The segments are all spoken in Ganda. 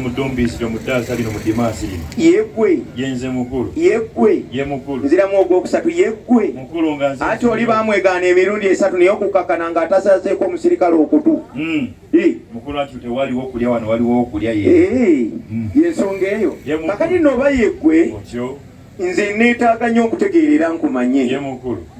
mudumbiisiro mu ddaasa lino mu dimaasi lino yeggwe yenze mukulu yeggwe ye mukulu nziramu ogwokusatu yeggwe mukulu nga nze ati oli baamwegaana emirundi esatu naye okukakkana nga atasazeeko omusirikale okutu hmm. mukulu ati tewaliwo okulya wano waliwo okulya ye hmm. yensonga eyo kakati nooba yeggwe nze neetaaga nnyo okutegeerera nkumanye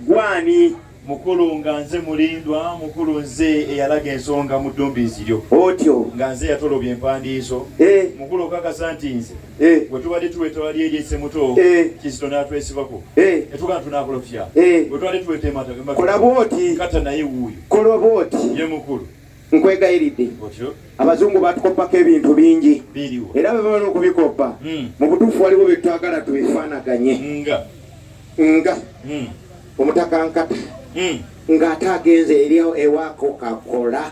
gwani mukulu nga nze mulindwa mukulu nze eyalaga ensonga mu ddumbiizi lyo otyo nga nze yatolobya empandiiso eh. mukulu okakasa nti nze eh. bwe tubadde tuweta wali eri esemuto eh. kizito n'atwesibako etugaa tunakolofya bwe tubadde tuweta emataakolabwoti kata naye wuuyo kolwa bwoti ye mukulu nkwegayiridde abazungu batukoppako ebintu bingi era bwe bamala okubikoppa hmm. mu butuufu waliwo bye twagala twefaanaganye nga hmm. omutaka nkata hmm. ng'ate agenze eri ewaako kakola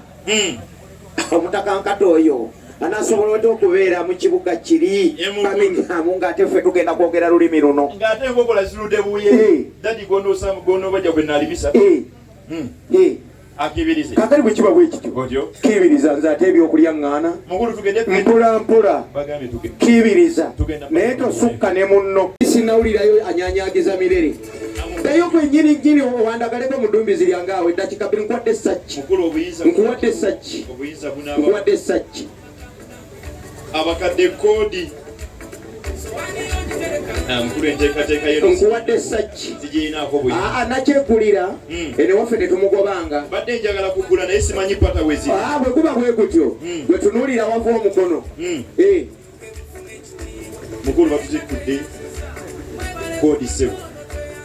omutaka nkata oyo anasobola otya okubeera mu kibuga kiri baminyamu ng'ate ffe tugenda kwogera lulimi luno ng'ate enkokola zirude buye dadi gondosamu gondobaja gwe nalibisa akibirize kakali bwe kiba bwekityo otyo kibiriza nze ate ebyokulya ŋŋaana mukulu tugende mpola mpola bagambye tugende kibiriza naye tosukka ne munno sinawulirayo anyanyagiza mirere ddayo kwenyini nyini owandagaleko mu ddumbizi lyange awo eddakika bbiri nkuwadde essakki nkuwadde essakki nkuwadde essakki abakadde koodi nkuwadde saki aa nakyegulira hmm. ene waffe tetumugobanga badde njagala kugula naye simanyi pata wezi aa bwe guba bwe gutyo hmm. bwe tunuulira wava omukono hmm. eh. mukulu batutikudde koodi sebo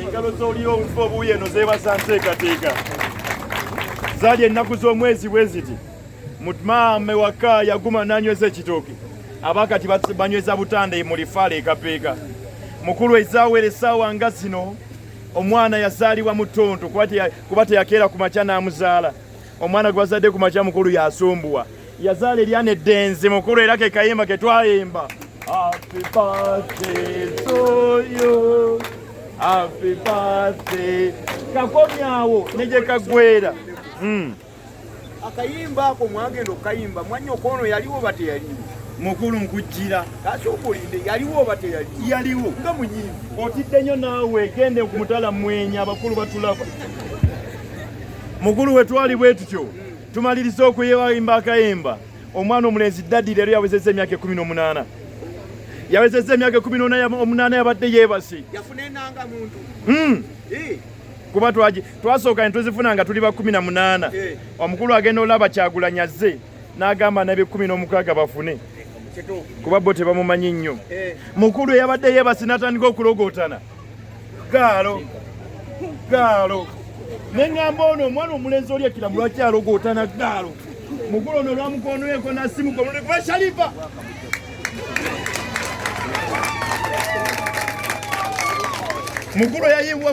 engalo z'oliyo obufa obuwi eno zeebaza nteekateeka zali ennaku z'omwezi bwe ziti mutmaame waka yaguma n'anyweza ekitooke abakati banyweza butanda mu lifaala ekapeeka mukulu ezaaweera essaawa nga zino omwana yazaalibwa mu ttonto kuba teyakeera ku makya n'amuzaala omwana gwazadde ku makya mukulu yasumbuwa yazaala eryana eddenzi mukulu era ke kayimba ke twayimba Happy birthday to you. Happy birthday. Kakomyawo neje kagwera. Mm. Akayimba ako mwagendo kayimba mwanyo kono yaliwo bate yaliwo. Mukulu nkujira. Kati okulinde yaliwo bate yaliwo. Yaliwo. Nga munyivu. Otidde nyo nawe gende kumutala mwenya abakulu batulaba. mukulu we twali bwe tutyo tumaliriza okuyimba akayimba omwana omulenzi dadi leero yawezezza emyaka ekumi n'omunaana yawezezza emyaka ekumi n'omunaana yabadde yeebase hmm. kuba twasooka ne tuzifuna nga tuli ba kumi na munaana eh. omukulu agenda olaba kyagulanya azze n'agamba n'abekumi n'omukaaga bafune kuba bo tebamumanyi nnyo eh. mukulu eyabadde yeebase n'atandika okulogootana gaalo gaalo neŋŋamba ono omwana omulenzi oli ekira mulwaki alogoota na gaalo mugulu ono olwamukonoyeko nasimugoba shalifa mugulu yayiwa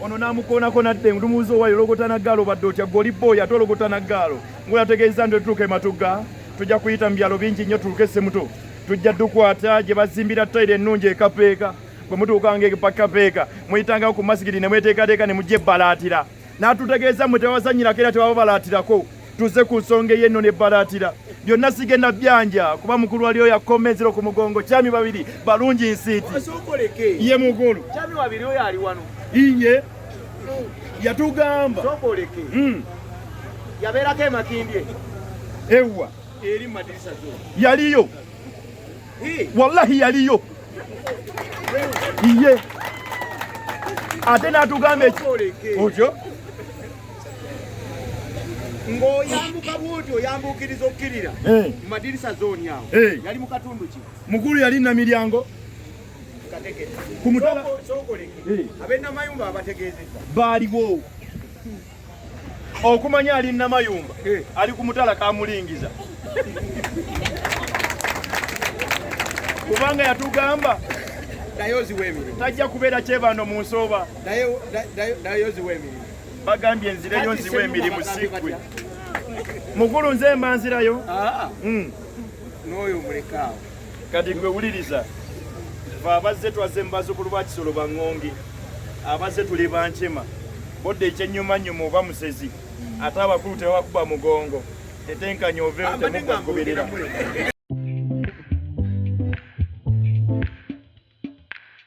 ono n'amukoonako n'adda endumuuzi owayo ologota na gaalo badde otya gwe oli booyi ate ologota na gaalo ngula ategeeza nti otutuuka ematugga tujja kuyita mu byalo bingi nnyo tuluke semuto tujja tukwata gye bazimbira tayiro ennungi ekapeeka bwe mutuukanga epakapeeka muyitanga ku masigiri ne mweteekateeka ne mujja ebbalaatira n'atutegeeza mwe tewazannyirako era tewababalatirako Tuze ku nsonga ey'ennono ebbalaatira byonna sigenda byanja kuba mukulu waliyo yakoma enziro ku mugongo kyami babiri balungi nsiiti ye mugulu iye yatugamba hmm. yabeerako emakindye ewa yaliyo wallahi yaliyo iye ate natugamba ekyo ng'oyambuka bwoti oyambuukiriza okukirira eh. mu madirisa zooni awo eh. yali mu katundu ki mukulu yali namiryango ku mutala eh. abenamayumba abategeezeza baaliwo okumanya ali namayumba ali ku mutala kamulingiza kubanga yatugamba tajja kubeera kyebando mu nsooba bagambye enzireyo nziwa emirimu sikwe mukulu nze mba nzirayo ah. hmm. n'oyo mulekaawo kati gwe wuliriza fe abazze twazze mu bazukulu ba kisolo baŋŋonge abazze tuli bankema bodde ekyennyumanyuma oba musezi ate abakulu tebabakuba mugongo etenkanya oveewo temugwa kugoberera